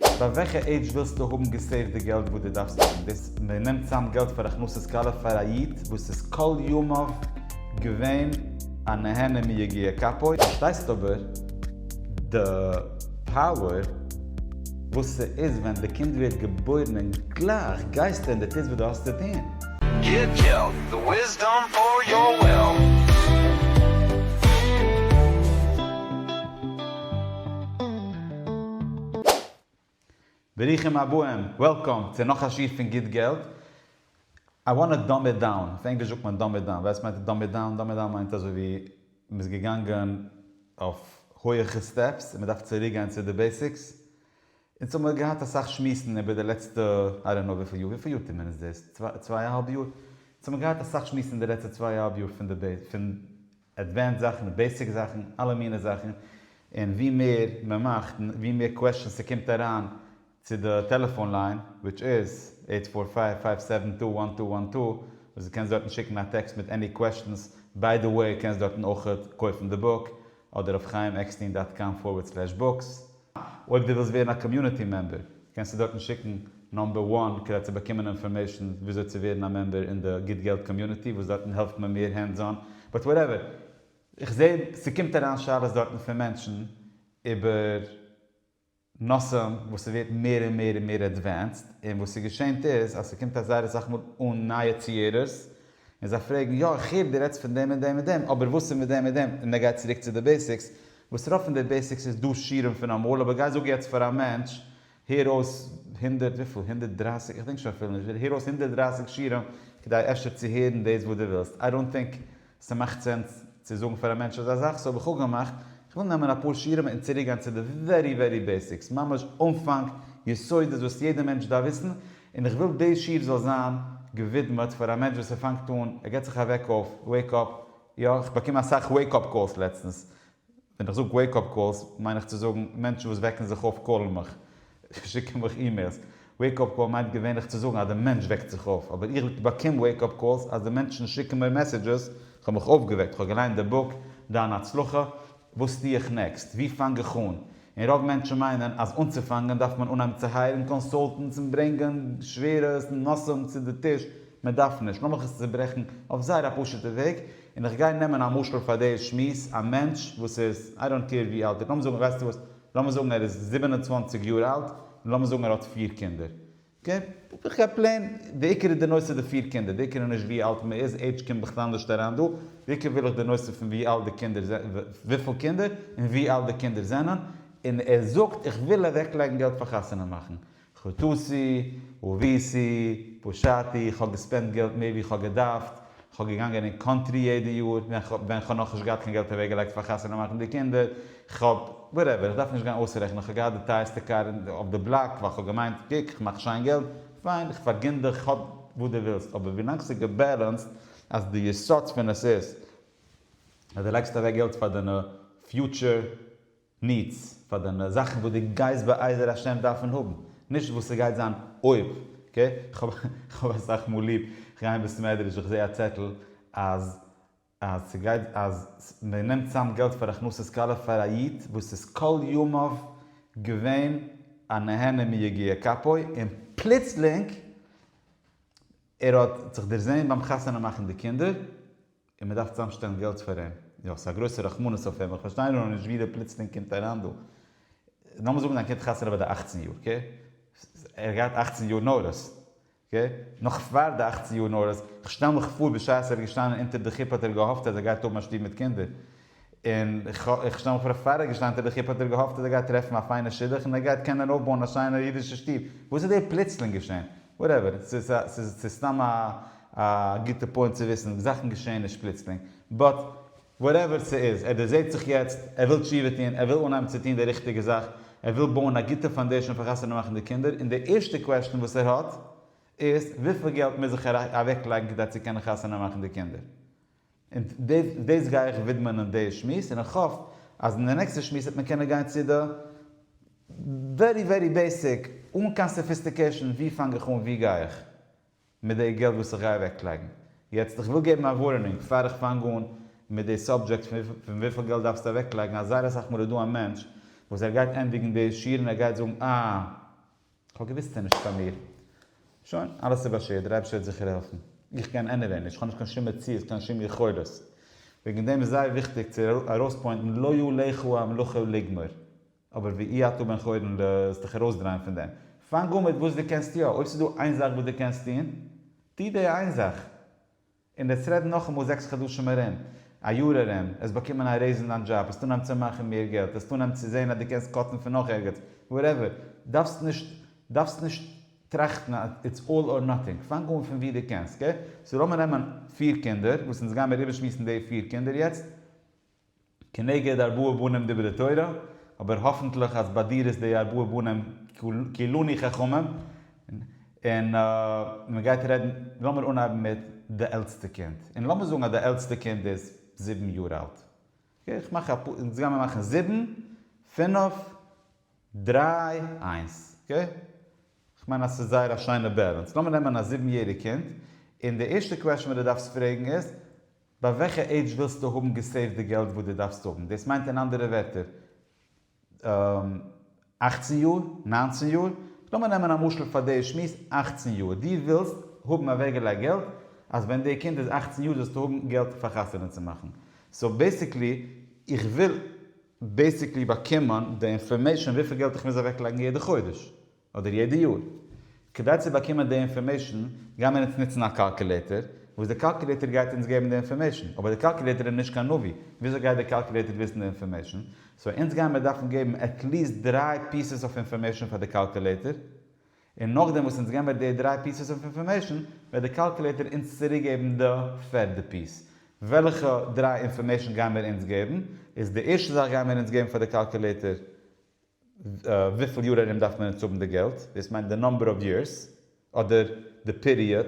ביי וועלכע עידזש ווילסטו האבן געסעיווט די געלט וואס דו דארפסט האבן דאס? מען נעמט צאם געלט פאר הכנסת כלה פאר א איד וואס איז כל ימיו געווען א נהנה מיגיע כפיו. פארשטייסט אבער די פאוער וואס ס'איז ווען די קינד ווערט געבוירן און גלייך גייסטו און די טוסט וואס דו האסט צו טון. גיב געלט, די וויסדאם פאר יור וויל. ברוכים הבאים, וועלקאם, צו נאך א שיעור פון גוט געלט. איי וואנא דאם איט דאון, אויף ענגליש זאגט מען דאם איט דאון, וועסט מיינט דאם איט דאון? דאם איט דאון מיינט אזוי ווי מען איז געגאנגען אויף הויעכע סטעפס און מען דארף צוריק גיין צו די בעסיקס. אונז האבן געהאט אסאך שמועסן איבער די לעצטע איי דאנט נאו וויפיל יאר, וויפיל יאר טוט מען אונז דאס? צוויי צוויי אהאלב יאר? אונז האבן געהאט אסאך שמועסן די לעצטע צוויי אהאלב יאר פון די בעיס פון עדווענסד זאכן, בעיסיק זאכן, אלע מיני זאכן, און ווי מער מען מאכט, און ווי מער קוועשטשענס ס'קומט אריין צו די טעלעפאן ליין, וויטש איז, עיט פאר פייוו פייוו סעווען טו וואן טו וואן טו, וואס דו קענסט דארטן שיקן א טעקסט מיט עני קוועשטענס, ביי די וועי קענסט דארטן אויכעט קויפן די בוק, אדער אויף חיים עקסטין דאט קאם פארווערד סלעש בוקס. אויב דו ווילסט ווערן א קאמיוניטי מעמבער קענסטו דארטן שיקן נאמבער וואן כדי צו באקומען אינפארמעישן וויאזוי צו ווערן א מעמבער אין די גוט געלט קאמיוניטי וואס דארטן העלפט מען מער הענדס אן באט וואטעווער איך זעה ס'קומט אריין שאלות דארטן פון מענטשן איבער נושאים וואס ס'ווערט מער און מער און מער עדווענסד און וואס ס'געשענט איז אז ס'קומט אזייער אסאך מאל אן נייע ציערערס און זיי פרעגן, יא, איך הער דו רעדסט פון דעם און דעם און דעם, אבער וואס איז מיט דעם און דעם? און ער גייט צוריק צו די בעיסיקס, וואס רוב פון די בעיסיקס איז דא שיעורים פון אמאל, אבער גיי זאג יעצט פאר א מענטש, הער אויס הונדערט, וויפיל? הונדערט דרײַסיק? איך דענק שוין אפילו נישט, הער אויס הונדערט דרײַסיק שיעורים כדי אפשר צו הערן דאס וואס דו ווילסט, איי דאנט טינק ס'מאכט סענס צו זאגן פאר א מענטש אזא זאך, סאו האב איך אפגעמאכט, איך וויל נעמען אפאר שיעורים און צוריקגיין צו די ווערי ווערי בעיסיקס, ממש אנפאנג, יסודות וואס יעדע מענטש דארף וויסן, און איך וויל דאס שיעור זאל זיין געווידמעט פאר א מענטש וואס ער פאנגט אן, ער געט זיך א וועק אויף, וועיק אפ, יא, איך באקום אסאך וועיק אפ קאלס לעצטנס, ווען איך זאג וועיק אפ קאלס מיין איך צו זאגן מענטשן וואס וועקן זיך אויף קאלן מיך, שיקן מיך אימעילס, וועיק אפ קאל מיינט געווענליך צו זאגן אז דער מענטש וועקט זיך אויף, אבער איך באקום וועיק אפ קאלס אז די מענטשן שיקן מיר מעסעדזשעס, כ'האב מיך אויפגעוועקט, כ'האב געליינט די בוק דיין הצלחה, וואס טו איך נעקסט? וואו פאנג איך אן? און רוב מענטשן מיינען אז אנצופאנגען דארף מען אנהייבן צו הייערן קאנסולטענטס און ברענגען שווערע נושאים צו די טיש, מען דארף נישט, לאמיך עס צוברעכן אויף זייער א פשוט'ע וועג, און איך גיי נעמען א משל פאר די שמועס, א מענטש וואס איז, איי דאנט קעיר ווי אלט ער איז, לאמיר זאגן, ווייסטו וואס, לאמיר זאגן ער איז זיבן און צוואַנציק יאר אלט, און לאמיר זאגן ער האט פיר קינדער, כן, איך גיי פלעין, די עיקר איז די נושא די פיר קינדער, די עיקר איז נישט ווי אלט מען איז, עידזש קומט בכלל נישט אריין דא, די עיקר וויל איך די נושא פון ווי אלט די קינדער זענען, וויפיל קינדער, און ווי אלט די קינדער זענען, און ער זאגט איך וויל אוועק לייגן געלט פאר חתונה מאכן, חטאתי, עוויתי, פשעתי, איך האב געספענדט געלט מער ווי איך האב געדארפט, כ'האב געגאנגען אין קאנטרי יעדע יאר ווען ווען כ'האב נאכנישט געהאט קיין געלט אוועקגעלייגט פאר חתונה מאכן די קינדער, כ'האב, וואטעווער, כ'דארף נישט גיין אויסרעכענען, כ'האב געהאט די טייערסטע קאר אין אויף די בלאק ווייל כ'האב געמיינט קוק כ'מאך שיין געלט, פיין כ'פארגין דיך כ'האב וואס דו ווילסט אבער ווילאנג ס'איז געבעלענסד אז די יסוד פון עס איז אז די לייגסט אוועק געלט פאר דיינע פיוטשער ניץ פאר דיינע זאכן וואס דו גייסט בעזר השם דארפן האבן, נישט וואס ס'גייט זיין אויב, אקעי? כ'האב אסאך מאל ליב, כ'גיי אין בית מדרש איך זעה א צעטל אז אז ס'גייט אז מען נעמט צאם געלט פאר הכנסת כלה פאר א איד וואס איז כל ימיו געווען א נהנה מיגיע כפו און פלוצלינג ער האט זיך דערזעהן ביים חתונה מאכן די קינדער, און מען דארף צוזאם שטעלן געלט פאר אים, יא ס'איז א גרויסע רחמנות אויף אים, איך פארשטיי נאר נישט ווי דער פלוצלינג קומט אריין דא, לאמיר זאגן זיין קינד חתונה ביי די אכצן יאר, אקעי? ער האט געהאט אכצן יאר נרות, אקעי? נאך פאר די אכצן יאר נרות, איך שטעל מיך פאר בשעת ער איז געשטאנען אונטער די חופה האט ער געהאפט אז ער גייט האבן א שטוב מיט קינדער, און איך שטעל מיך פאר א פאריגע שטיין טעפיך היפ האט ער געהאפט אז ער גייט טרעפן א פיינע שידוך און ער גייט קענען אויפבויען א שיינע אידישע שטוב, וואס איז דא פלוצלינג געשען? וואטעווער, ס'איז סתם א גוטע פוינט צו וויסן, זאכן געשען נישט פלוצלינג, באט וואטעווער ס'איז, ער דערזעט זיך יעצט, ער וויל תשובה טון, ער וויל אנהייבן צו טון די ריכטיגע זאך, ער וויל בויען א גוטע פאנדעישאן פאר חתונה מאכן די קינדער, און די ערשטע קוועשטן וואס ער האט איז, וויפיל געלט מוז איך אוועקלייגן כדי צו קענען חתונה מאכן די קינדער? און דאס דאס גיי איך ווידמען אין די שמועס, און איך האף אז אין די נעקסטע שמועס וועט מען קענען גיין צו די ווערי ווערי בעיסיק, אן קיין סאפיסטיקעישאן, ווי פאנג איך אן ווי גיי איך מיט די געלט וואס איך גיי אוועקלייגן. יעצט איך וויל געבן א ווארענונג פאר איך פאנג אן מיט די סאבדזשעקט פון וויפיל געלט דארפסטו אוועקלייגן, אז זייער אסאך מאל איז דא א מענטש וואס ער גייט ענדיגן די שיעור און ער גייט זאגן אה. כ'האב געוויסט ס'איז נישט פאר מיר. שוין, אלעס איז באשערט, דער אייבערשטער וועט זיכער העלפן. איך קען עניוועי נישט, כ'האב נישט קיין שום מציאות, קיין שום יכולת. וועגן דעם איז זייער וויכטיג צו ארויספוינטן לא יאה לך המלאכה לגמור. אבער ואי אתה בן חורין ל זאלסט דיך ארויסדרייען פון דעם. פאנג אן מיט וואס דו קענסט יא. אויב ס'איז דא איין זאך וואס דו קענסט טון, טו די איין זאך. און יעצט רעדן נאכאמאל זעקס חדשים ארום, א יאר ארום, עס באקומען א רעיז אין דיין דזשאב, עס טון אהן צו מאכן מער געלט, עס טון אהן צו זעהן אז דו קענסט קאטן פון נאך ערגעץ, וואטעווער, דארפסט נישט דארפסט נישט טראכטן אז איטס אלל אר נאטינג, פאנג אהן פון ווי דו קענסט, אקעי? סאו לאמיר נעמען פיר קינדער, וואס אונז גיימיר איבערשמועסן די פיר קינדער יעצט, כנגד ארבעה בנים דברי תורה, אבער האפענטליך אז ביי דיר איז די ארבעה בנים כולני חכמים, און מען גייט רעדן, לאמיר אנהייבן מיט די עלטסטע קינד, און לאמיר זאגן אז די עלטסטע קינד איז זיבן יאר אלט, איך מאך א, אונז גיימיר מאכן זיבן, פינף, דריי, איינס, אקעי? כ'מיין אז ס'איז זייער א שיינע בעלענס, לאמיר נעמען א זיבן יעריג קינד, און די ערשטע קוועשאן וואס די דארפסט פרעגן איז, ביי וועלכע עידזש ווילסטו האבן געסעיווט די געלט וואס דו דארפסט האבן? דאס מיינט אין אנדערע ווערטער אַכצן יאר? נײַנצן יאר? לאמיר נעמען א משל פאר די שמועס אַכצן יאר, דו ווילסט האבן אוועקגעלייגט געלט אז ווען די קינד איז אַכצן יאר זאלסטו האבן געלט פאר חתונה צו מאכן, סאו בעסיקלי איך וויל בעסיקלי באקומען די אינפארמעישאן וויפיל געלט איך מוז אוועקלייגן יעדע חודש, אדער יעדע יאר? כדי צו באקומען די אינפארמעישן גייען מיר אונז נוצן א קאלקולעיטער, וואס די קאלקולעיטער גייט אונז געבן די אינפארמעישן, אבער די קאלקולעיטער איז נישט קיין נביא, וויאזוי גייט די קאלקולעיטער וויסן די אינפארמעישן? סאו אונז גייען מיר דארפן געבן עטליעסט דריי פיסעס אויף אינפארמעישן פאר די קאלקולעיטער, און נאכדעם וואס אונז געבן מיר די דריי פיסעס אויף אינפארמעישן, וועט די קאלקולעיטער אונז צוריקגעבן די פערדע פיס. וועלכע דריי אינפארמעישן גייען מיר אונז געבן? איז די ערשטע זאך גייען מיר אונז געבן פאר די קאלקולעיטער וויפיל יאר ארום דארף מען אונז האבן די געלט? דאס מיינט די נאמבער אוו יערס אדער די פיריעד?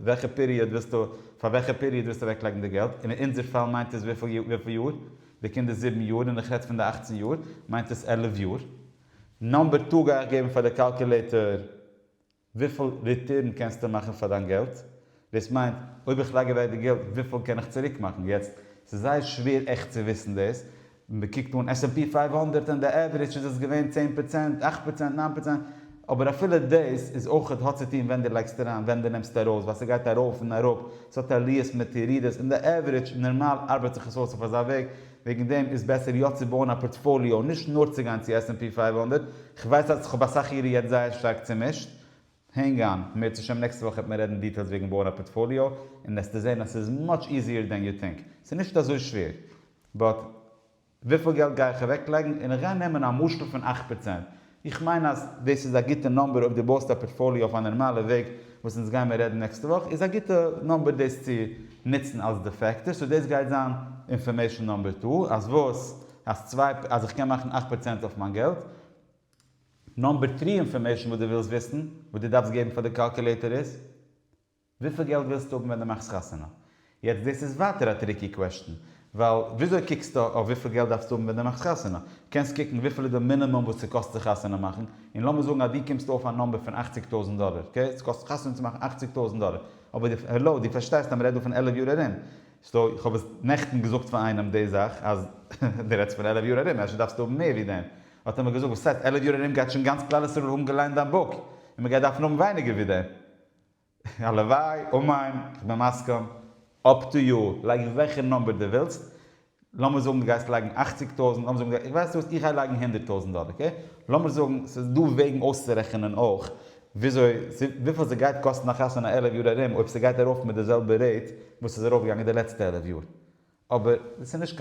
וועלכע פיריעד ווילסטו, פאר וועלכע פיריעד ווילסטו אוועק לייגן די געלט? און אין אונזער פאל מיינט עס וויפיל יאר? די קינד איז זיבן יאר און איך רעדט פון די אכצן יאר מיינט עס עלף יאר. נאמבער טו גיי איך געבן פאר די קאלקולעיטער. וויפיל ריטורן קענסטו מאכן פאר דיין געלט? דאס מיינט אויב איך לייג אוועק די געלט וויפיל קען איך צוריק מאכן? יעצט ס'איז זייער שווער עכט צו וויסן דאס, מ'קוקט אן עס ענד פי פייוו הונדערט און די עווערידזש איז עס געווען צען פראצענט, אכט פראצענט, ניין פראצענט, אבער אפילו דאס איז אויך האט צו טון ווען דו לייגסט אריין ווען דו נעמסט ארויס ווייל ס'גייט ארויף און אראפ, ס'האט עליות מיט ירידות, און די עווערידזש נארמאל ארבעט זיך עס אויס אויף אזא וועג, וועגן דעם איז בעסער יא צו בויען א פארטפאליאו נישט נאר צו גיין צו עס ענד פי פֿינף הונדערט, כ'ווייס אז כ'האב אסאך אירע יעצט זייער שטארק צומישט, הענג אן, בעזרת השם נעקסטע וואך וועט מען רעדן דיטעילס וועגן בויען א פארטפאליאו און עסטו זען אז ס'איז מאטש איזיער דען יו טינק, ס'איז נישט אזוי שווער, באט וויפיל געלט גיי איך אוועקלייגן און איך גיי נעמען א משקל פון אַכט פראצענט, איך מיין אז דאס איז א גוטע נאמבער אויב דו בויסט א פארטפאליע אויף א נערמאלע וועג וואס אונז גיימער רעדן נעקסטע וואך איז א גוטע נאמבער דאס צו נוצן אלס די פעקטער סאו דאס גייט זיין אינפארמעישן נאמבער טו אז וואס אז צוויי אז איך קען מאכן אכט פראצענט אויף מיין געלט נאמבער טרי אינפארמעישן וואס דו ווילסט וויסן וואס דו דארפסט געבן פאר די קאלקולעיטער איז. וויפיל געלט ווילסטו האבן ווען דו מאכסט חתונה? יעצט דאס איז ווייטער א טריקי קוועשטען, ווייל וויאזוי קוקסטו אויף וויפיל געלט דארפסטו האבן ווען דו מאכסט חתונה? קענסט קוקן וויפיל איז די מינימום וואס ס'קאסט זיך חתונה מאכן, און לאמיר זאגן אז דו קומסט אויף א נומבער פון אכציג טויזענט דאלער, אקעי? ס'קאסט חתונה צו מאכן אכציג טויזענט דאלער, אבער די, העלאו, דו פארשטייסט אז מ'רעדט דא פון עלף יאר ארום, סאו, איך האב עס נעכטן געזאגט פאר איינעם די זאך, אז דו רעדסט פון עלף יאר ארום, אפשר דארפסטו האבן מער ווי דעם, האט ער מיר געזאגט, וואס הייסט עלף יאר ארום גייט שוין גאנץ כלל ישראל האבן געליינט דיין בוק, און מ'גייט דארפן האבן ווייניגער ווי דעם. הלוואי, אמן, כ'בין מסכים. אפ טו יו, לייג וועלכע נומבער דו ווילסט, לאמיר זאגן דו גייסט לייגן אַכציק טויזנט, לאמיר זאגן, ווייסט וואס, איך גיי לייגן הונדערט טויזנט דאלער, אקעי? לאמיר זאגן, ס'איז דא וועגן אויסצורעכענען אויך וויאזוי, וויפיל ס'גייט קאסטן א חתונה עלף יאר ארום אויב ס'גייט ארויף מיט די זעלבע רעיט וואס ס'איז ארויפגעגאנגען די לעצטע עלף יאר. אבער דאס איז נישט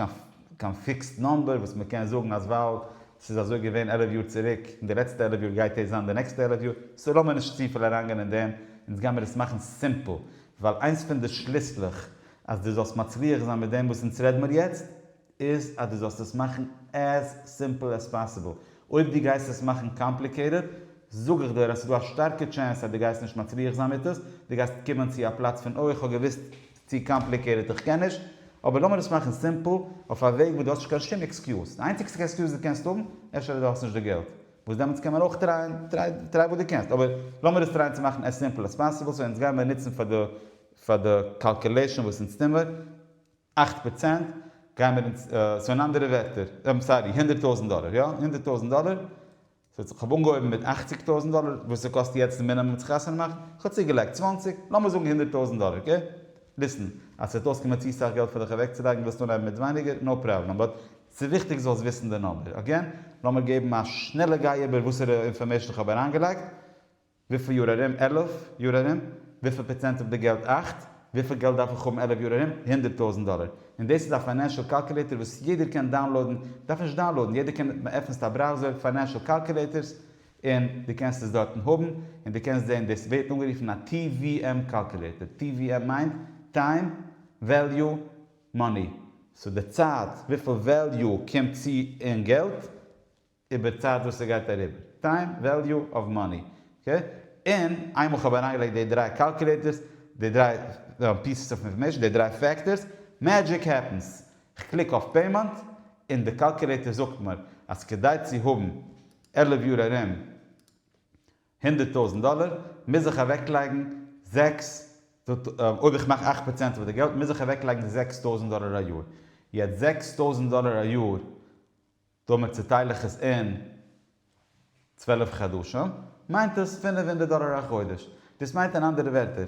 קיין פיקסד נאמבער וואס מען קען זאגן אז ווייל ס'איז אזוי געווען עלף יאר צוריק און די לעצטע עלף יאר גייט דאס זיין די נעקסטע עלף יאר, סאו לאמיר נישט צופיל אריינגיין אין דעם, אונז גיימיר עס מאכן סימפל, ווייל איינס פון די שליסלעך אז דו זאלסט מצליח זיין מיט דעם וואס אונז רעד מיר יעצט, איז אז דו זאלסט עס מאכן עז סימפל עז פאסיבל, אויב דו גייסט עס מאכן קאמפליקעיטעד, זאג איך דיר אז ס'איז דא א שטארקע טשענס אז דו גייסט נישט מצליח זיין מיט עס, דו גייסט קומען צו א פלאץ פון אוי איך האב געוואוסט. צו קאמפליקעיטעד איך קען נישט, אבער לאמיר עס מאכן סימפל, אויף א וועג וואס דו האסט נישט קיין שום עקסקיוז, די איינציגסטע עקסקיוז וואס דו קענסט האבן, אפשר אז דו האסט נישט די געלט, וואס דעמאלטס קען מען אויך טרייען, טריי טריי וואס דו קענסט, אבער לאמיר עס טרייען צו מאכן עז סימפל עז פאסיבל, סאו אונז גיימער נוצן פאר די פאר די קאלקולעישאן וואס אונז טוהן מיר, אכט פראצענט, גיימער אונז, סאו אין אנדערע ווערטער, סארי הונדערט טויזנט דאלער, יא הונדערט טויזנט דאלער, ס'האט זיך כ'האב אנגעהויבן מיט אַכציק טויזנט דאלער וואס ס'קאסט יעצט די מינימום צו חתונה מאכן, כ'האב צוגעלייגט צוואַנציק, לאמיר זאגן הונדערט טויזנט דאלער, אקעי? ליסן, אז ס'וועט אויסקומען צו סאך געלט פאר דיך אוועקצולייגן ווילסט אנהייבן מיט ווייניגער, נאו פראבלעם, באט ס'איז וויכטיג זאלסט וויסן די נומבער, אגעין, לאמיר געבן א שנעלע גיי איבער וואסערע אינפארמעישן כ'האב אריינגעלייגט, וויפיל יאר ארום? עלף יאר ארום? וויפיל פראצענט אויף די געלט? אכט? וויפיל געלט דארף איך האבן עלף יאר ארום? הונדערט טויזנט דאלער. און דאס איז א פיינענשעל קאלקולעיטער וואס יעדער קען דאונלאודן, דארף נישט דאונלאודן, יעדער קען, מ'עפענסט א בראוזער, פיינענשעל קאלקולעיטערס, און דו קענסט עס דארטן האבן, און דו קענסט זען, דאס ווערט אנגערופן א TVM קאלקולעיטער, TVM מיינט, טיים, וועליו, מאני. סאו די צייט, וויפיל וועליו קומט צו אין געלט. איבער צייט וואס ס'גייט אריבער, טיים וועליו אוו מאני, אקעי? און איינמאל כ'האב אריינגעלייגט די דריי קאלקולעיטערס, די דריי פיסעס אוו אינפארמעישן, די דריי פעקטארס, מעדזשיק העפענס! כ'קליק אויף פעימענט, און די קאלקולעיטער זאגט מיר אז כדי צו האבן עלף יאר ארום הונדערט טויזנט דאלער, מוז איך אוועקלייגן זעקס, אויב איך מאך אכט פראצענט אויף די געלט, מוז איך אוועקלייגן זעקס טויזנט דאלער א יאר. יעצט זעקס טויזנט דאלער א יאר. דאמער צעטייל איך עס אין צוועלף חדשים, מיינט עס פֿינף הונדערט דאלער א חודש. דאס מיינט אין אנדערע ווערטער,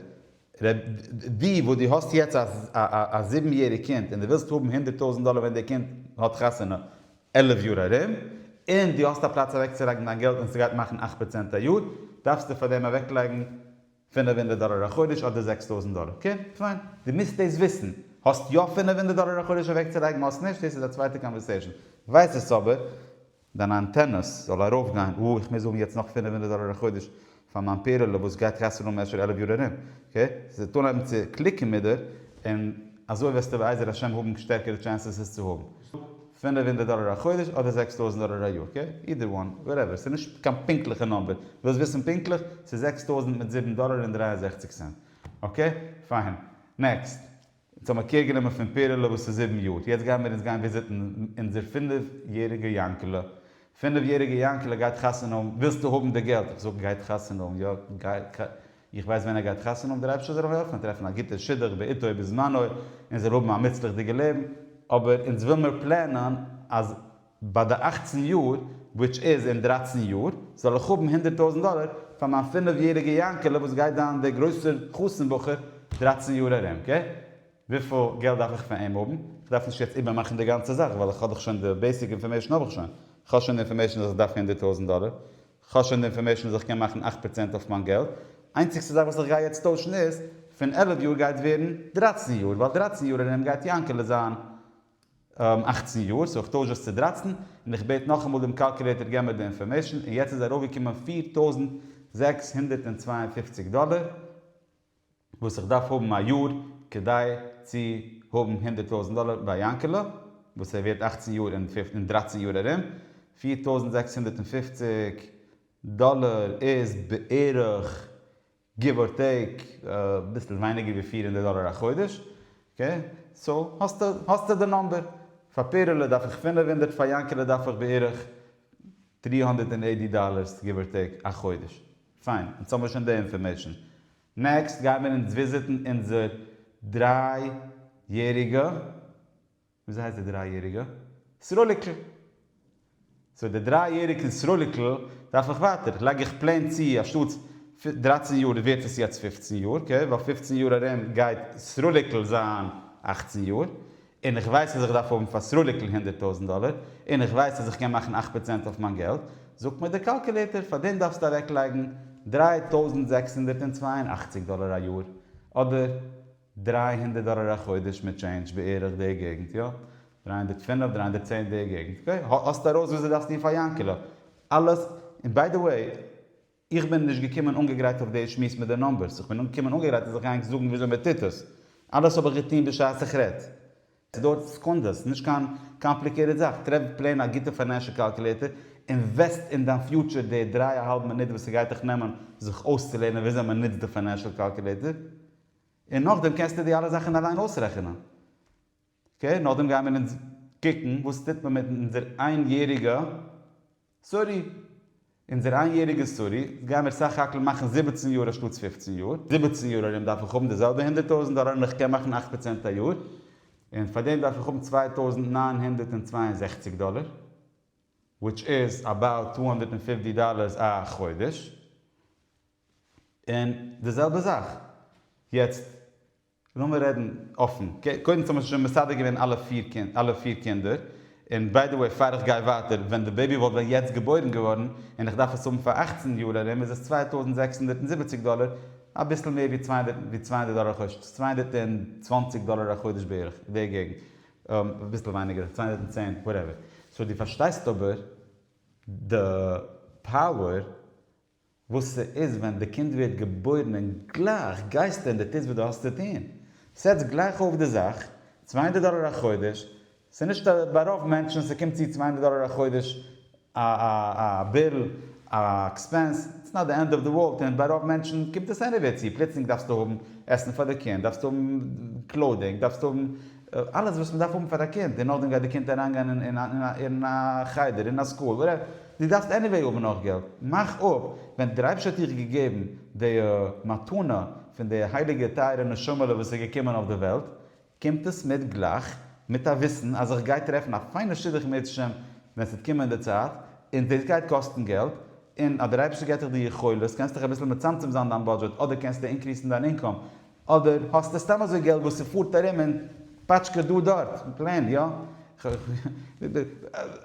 ר' די וואס דו האסט יעצט א זיבן יעריג קינד און דו ווילסט האבן הונדערט טויזנט דאלער ווען די קינד האט חתונה עלף יאר ארום, און דו האסט א פלאץ אוועקצולייגן דיין געלט און ס'גייט מאכן אכט פראצענט א יאר, דארפסטו פאר דעם אוועקלייגן. פינף הונדערט דאלער א חודש אדער זעקס טויזענט דאלער? אקעי פיין, דו מוזט דאס וויסן, האסט יא פינף הונדערט דאלער א חודש אוועקצולייגן האסט נישט דאס איז א צווייטע קאנווערסעישן, ווייס עס אבער, דיינע אנטענעס זאל ארויף גיין, וואו איך מוז האבן יעצט נאך פינף הונדערט דאלער א חודש פאר מיין פערדעלע וואס גייט קאסטן אן משהו עלף יאר ארום, אקעי, ס'וועט אנהייבן צו קליקן מיט דיר, און אזוי וועסטו בעזר השם האבן שטערקערע טשענסעס עס צו האבן. פֿינף הונדערט דאלער א חודש אדער זעקס טויזנט דאלער א יאר אקעי אידער וואן וואטעווער ס'איז נישט קיין פונקטליכע נומבער ווילסט וויסן פונקטליך ס'איז זעקס טויזנט מיט זיבן דאלער און דרײַ און זעכציק סענט אקעי פיין נעקסט אונז האבן קעיר גענומען פון פערעלע וואס איז זיבן יאר יעצט גייען מיר אונז גיין וויזיטן אונזער פֿינף יעריגע יענקעלע פֿינף יעריגע יענקעלע גייט חתונה האבן ווילסטו האבן די געלט איך זאג גייט חתונה האבן יא גייט איך ווייס ווען ער גייט חתונה האבן, דער אייבערשטער זאל אים העלפן טרעפן א גוטע שידוך בעתו ובזמנו און זאל האבן א מוצלח'דיגע לעבן, אבער אונז וויל מיר פלענען אז ביי די אכצן יאר, וויטש איז אין דרייצן יאר, זאל איך האבן הונדערט טויזנט דאלער פאר מיין פינף יעריגע יענקעלע וואס גייט זיין דער גרויסער חתן בחור דרייצן יאר ארום, קעי? וויפיל געלט דארף איך פון אים האבן? איך דארף נישט יעצט איבערמאכן די גאנצע זאך ווייל איך האב דאך שוין די בעיסיק אינפארמעישן האב איך שוין, איך האב שוין די אינפארמעישן אז איך דארף הונדערט טויזנט דאלער, כ'האב שוין די אינפארמעישן אז איך קען מאכן אַכט פראצענט אויף מיין געלט, איינציגסטע זאך וואס איך גיי יעצט טוישן איז, פון עלף יאר גייט ווערן דרייצן יאר, ווייל דרייצן יאר ארום גייט יענקעלע זיין אַכצן יאר, סאו איך טויש עס צו דרייצן, און איך בעט נאכאמאל דעם קאלקולעיטער געב מיר די אינפארמעישן, און יעצט איז ארויפגעקומען פֿיר טויזנט זעקס הונדערט צוויי און פֿופֿציק דאלער. וואס איך דארף האבן א יאר כדי צו האבן הונדערט טויזנט דאלער ביי יענקעלע וואס ער ווערט אכצן יאר אין דרייצן יאר ארום, פֿיר טויזנט זעקס הונדערט און פֿופֿציק דאלער איז בערך גיוו אר טעיק אביסל ווייניגער ווי פֿיר הונדערט דאלער א חודש, אקעי סאו האסטו האסטו די נאמבער, פאר פערעלע דארף איך פֿינף הונדערט פאר יענקעלע דארף איך בערך דרײַ הונדערט און עיטי דאלערס גיוו אר טעיק א חודש. פיין, יעצט האבן מיר שוין די אינפארמעישן. נעקסט גייען מיר אונז וויזיטן אונזער דריי יעריגע, וויאזוי הייסט די דריי יעריגע? סרוליקל. סאו די דריי יעריגן סרוליקל דארף איך ווייטער, לייג איך פלעין צו אנשטאטס דרייצן יאר ווערט עס יעצט פופצן יאר, אקעי, ווייל פופצן יאר ארום גייט סרוליקל זיין אכצן יאר, און איך ווייס אז איך דארף האבן פאר סרוליק'ל הונדערט טויזנט דאלער, און איך ווייס אז איך קען מאכן אכט פראצענט אויף מיין געלט, זאגט מיר דער קאלקולעיטער, פאר דעם דארפסטו אוועקלייגן דרײַ טויזנט זעקס הונדערט און צוויי און אַכציק דאלער א יאר, אדער דרײַ הונדערט דאלער א חודש מיט טשעינדזש, בערך די געגנט, יא, דרײַ הונדערט פֿינף, דרײַ הונדערט צען די געגנט, אקעי, האסט ארויס וואס דו דארפסט טון פאר יאנקעלע, אלעס, און ביי די וועי, איך בין נישט געקומען אנגעגרייט אויף די שמועס מיט די נומבערס, איך בין געקומען אנגעגרייט אז איך גיי ענק זאגן וויאזוי מען טוט עס, אלעס האב איך געטון בשעת איך רעד, עס דויערט סעקונדעס, ס'איז נישט קיין קאמפליקעיטעד זאך, טרעף פלעין א גוטע פיינענשעל קאלקולעיטער, אינוועסט אין דיין פיוטשער די דריי אהאלב מינוט וואס ס'גייט דיך נעמען זיך אויסצולערנען וויאזוי מען נוצט די פיינענשעל קאלקולעיטער, און נאכדעם קענסטו די אלע זאכן אליין אויסרעכענען. אקעי, נאכדעם גיימער אונז קוקן וואס טוט מען מיט אונזער איין יעריגע סארי. אונזער איין יעריגע סארי, אונז גיימער סך הכל מאכן זיבעצן יאר אנשטאטס פופצן יאר. זיבעצן יאר ארום דארף איך האבן די זעלבע הונדערט טויזענט דאלאר און איך קען מאכן אכט פראצענט א יאר. און פאר דעם דארף איך האבן צוויי טויזנט נײַן הונדערט און צוויי און זעכציק דאלאר. וויטש איז אבאוט טו הונדערט און פֿופֿציק דאלארס א חודש. און די זעלבע זאך. יעצט לאמיר רעדן אפן, קודם צו מ'האט שוין מסדר געווען אלע פיר קינדער, און ביי די וועי פאר איך גיי ווייטער, ווען די בעיבי וואלט ווען יעצט געבוירן געווארן, און איך דארף עס האבן פאר אַכצן יאר ארום, איז עס צוויי טויזנט זעקס הונדערט און זיבעציק דאלער, אביסל מער ווי צוויי הונדערט דאלער א חודש, צוויי הונדערט און צוואַנציק דאלער א חודש בערך, אין די געגנט, אביסל ווייניגער, צוויי הונדערט און צען, וואטעווער. סאו דו פארשטייסט אבער די פאוער וואס ס'איז ווען די קינד ווערט געבוירן און גלייך גייסטו און די טוסט וואס די האסט צו טון. סעטס גלייך אויף די זאך, צוויי הונדערט דאלער א חודש, ס'איז נישט א ביי רוב מענטשן ס'קומט צו צוויי הונדערט דאלער א חודש א א א ביל א עקספענס, איטס נאט די ענד אוו די ווארלד און ביי רוב מענטשן קומט עס עניוועי צו, פלוצלינג דארפסטו האבן עסן פאר די קינד, דארפסטו האבן קלאודינג, דארפסטו האבן אלעס וואס מ'דארף האבן פאר א קינד, און נאכדעם גייט די קינד אריינגיין אין א חדר, אין א סקול, וואטעווער, דו דארפסט עניוועי האבן נאך געלט, מאך אפ, ווען דער אייבערשטער האט דיך געגעבן די מתנה פון די הייליגע טייערע נשמה'לע וואס איז געקומען אויף די וועלט, קומט עס מיט גלייך מיט א וויסן אז איך גיי טרעפן א פיינע שידוך בעזהשם ווען ס'וועט קומען די צייט, און דאס גייט קאסטן געלט, און אז דער אייבערשטער געט דיך די יכולת, קענסטו דיך אביסל מצמצם זיין דיין בודזשעט, אדער קענסטו אינקריסן דיין אינקאם, אדער האסטו סתם אזוי געלט וואס ס'פארט ארום און פאטשקעט דא דארט און פלענט יא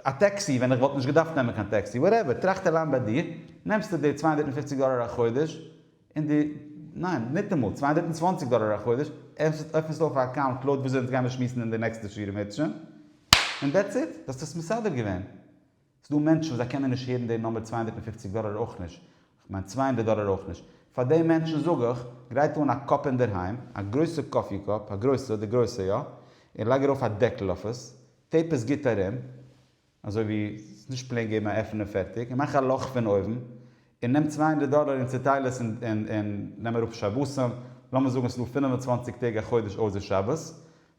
א טעקסי ווען איך וואלט נישט געדארפט נעמען קיין טעקסי וואטעווער טראכט אליין ביי דיר נעמסטו די צוויי הונדערט און פופציג דאלער א חודש און די ניין ניטאמאל צוויי הונדערט און צוואנציג דאלער א חודש עפנסט עפנסט אויף א אקאונט לויט וויאזוי אונז גיימיר שמועסן אין די נעקסטע שיעורים היטשע און דעטס איט דו האסט עס מסדר געווען. ס'דא מענטשן וואס זיי קענען נישט הערן די נומער צוויי הונדערט און פֿופֿציק דאללער אויך נישט, כ'מיין צוויי הונדערט דאללער אויך נישט, פאר די מענטשן זאג איך, גרייט אן א קאפ אינדערהיים, א גרויסע קאפי קאפ, א גרויסע, די גרויסע יא, און לייג ארויף א דעקל אויף עס, טעיפ עס גוט ארום, אזוי ווי ס'איז נישט פלעין געבן א עפן און פערטיג, און מאך א לאך פון אויבן, און נעם צוויי הונדערט דאללער און צוטייל עס און און און נעם אראפ שבתים, לאמיר זאגן ס'איז דא פֿינף און צוואַנציק טעג א חודש אויסער שבת,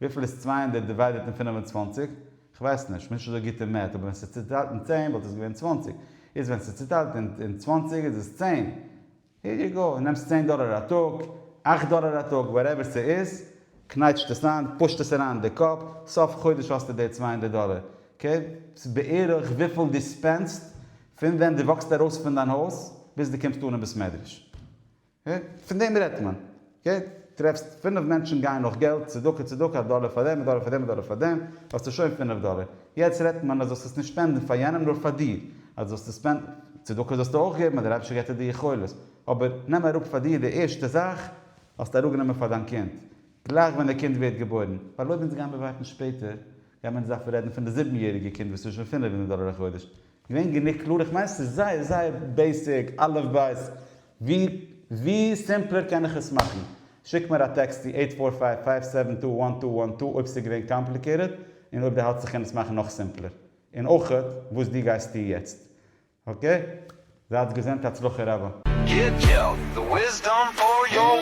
וויפיל איז צוויי הונדערט דיוויידעט אין פֿינף און צוואַנציק? כ'ווייס נישט, כ'בין נישט אזוי גוט אין מעט, אבער ווען ס'איז צוטיילט אין צען וואלט עס געווען צוואַנציק, איז ווען ס'איז צוטיילט אין צוואַנציק איז עס צען. העיר יו גאו, נעמסט צען דאלער א טאג, אַכט דאלער א טאג, וואטעווער ס'איז, קנייטשט עס איין, פושט עס אריין אין די קאפ, סוף חודש האסטו די צוויי הונדערט דאלער. אקעי, ס'איז בערך וויפיל דו ספענדסט פון ווען דו וואקסט ארויס פון דיין הויז ביז דו קומסט אן אין בית מדרש. פון דעם רעדט מען. טרעפסט פינף מענטשן גייען נאך געלט, צדקה צדקה, א דאלער פאר דעם, א דאלער פאר דעם, א דאלער פאר דעם, האסטו שוין פינף דאלער. יעצט רעדט מען אז זאלסט עס נישט שפענדן פאר יענעם נאר פאר דיר. אז זאלסט עס ספענדן, צדקה זאלסטו אויך געבן אז דער אייבערשטער געבט דיר די יכולת. אבער נעם אראפ פאר דיר די ערשטע זאך האסטו אראפגענומען פאר דיין קינד. גלייך ווען דער קינד ווערט געבוירן. ווייל אויב אונז גיימיר ווארטן שפעטער, גיימיר אונז דארפן רעדן פון די זיבן יעריגע קינד וואס טוט שוין פינף הונדערט דאלער א חודש. געווען גענוג קלאר? איך מיין ס'איז זייער זייער בעיסיק, אלף בית, ווי ווי סימפלער קען איך עס מאכן? שיק מיר א טעקסט צו עיט פאר פייוו פייוו סעווען טו וואן טו וואן טו אויב ס'איז געווען קאמפליקעיטעד, און אויב דו האלטסט איך קען עס מאכן נאך סימפלער, און אויך וואס דו גייסט טוהן יעצט. אקעי? זייטס געזונט, הצלחה רבה. גיט געלט, די וויסדאם פאר יואל.